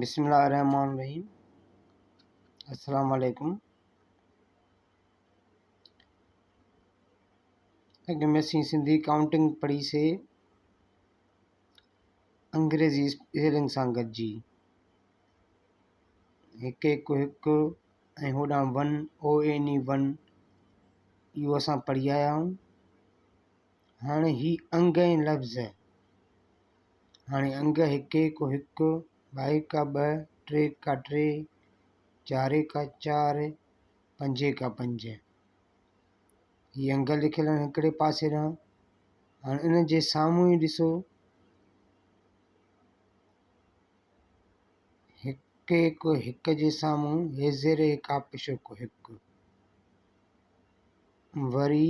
بسم الله الرحمن الرحيم السلام عليڪم اڳ ۾ اسين سنڌي ڪائونٽنگ پڙهي سي انگريزي اسپيلنگ سان گڏجي هڪ هڪ هڪ ۽ هوڏانهن one O N A one اهو اسان پڙهي آيا آهيون هاڻي هي انگ ۽ لفظ. هاڻي انگ هڪي ڪو هڪ، ٻائي ڪا ٻه، ٽي ڪا ٽي، چاري ڪا چار، پنجي ڪا پنج. هي انگ لکيل آهن هڪڙي پاسي ڏانهن. هاڻي ان جي سامهون ئي ڏسو هڪي ڪو هڪ جي سامهون هي زير هڪاپشو ڪو هڪ. وري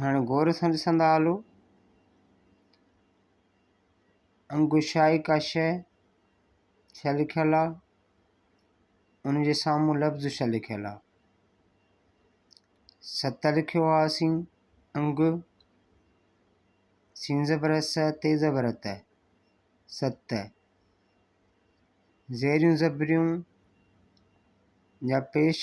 هاڻي غور سان ڏسندا هلو انگوشائي ڪا شيء ڇا لکيل آ ان جي سامهون لفظ ڇا لکيل آ ست لکيو آ اسين انگ سين زبر س تي زبر ت ست زيريون زبريون جا پيش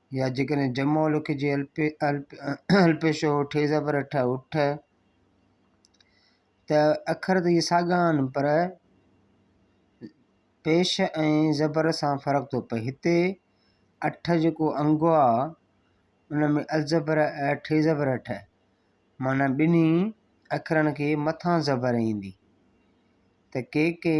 يا جيڪڏهن جمعو لکجي الپيشو ٺي زبر ٺ اٺ ته اکر ته اهي ساڳا آهن پر پيش ۽ زبر سان فرق ٿو پئي هتي اٺ جيڪو انگو آهي ان ۾ الزبر ٺي زبر اٺ معنيٰ ٻنهي اکرن کي مٿان زبر ايندي ته ڪي ڪي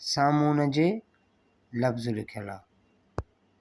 سامونڊ جي لفظ لکيل آ.